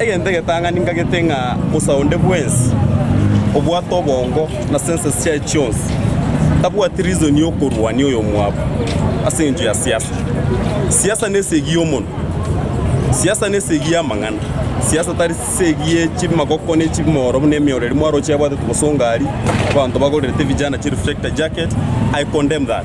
Egento egetang'ani ngagete ng'a Musa onde bwensi obwate obongo na senses chiaye chionsi tabwati reason y'okorwania oyomwabo ase engencho ya siasa. Siasa nesegi y'omonwa, siasa nesegi y'amang'ana, siasa tari segi ye chimagoko ne chimoro buna emeoro eria mwaroche yabwatete gose ongari abanto bagorerete vijana chireflector jacket, I condemn that.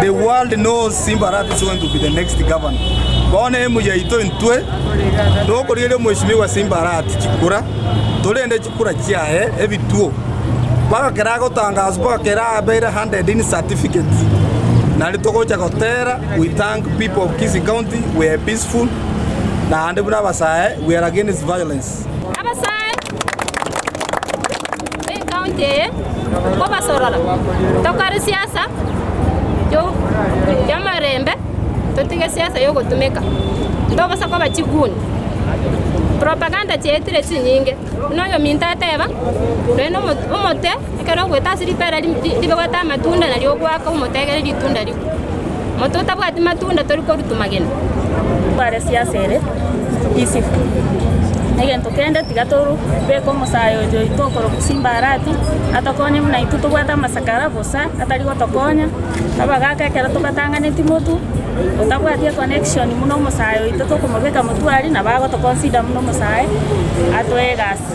The world knows Simba Arati is going to be the next governor. Bono emu yaito intwe tokorieria omweshimiwa Simba Arati chikura, torende chikura chiaye ebituo mpaka kera agotangaswa mpaka kera abeire handed in certificate. Nari togocha gotera we thank people of Kisii County we are peaceful naende buna abasae we are against violence. Abasae. Ekaunti eye nkobasorora tokore siasa y'amarembe totige siasa y'ogotumeka tobosa koba chiguni propaganda chiaetire chinyinge buna oyominto ateba noe omote ekero ogwete ase ripera ribe gwete amatunda nario ogwaka omote egere ritunda rigwe. Mototabwati matunda tori korutumagena. Tware siasa ere easy egento kende tiga toru beke omosae oito oito okorokwa simba arati atokonye buna intwe tobwate amasakara bosa atari gotokonya abagaka ekero tobatanganeti motu otabwati econnection buna omosae oito tokomobeka motu aria nabo agoto consider buna omosae atoe egasi.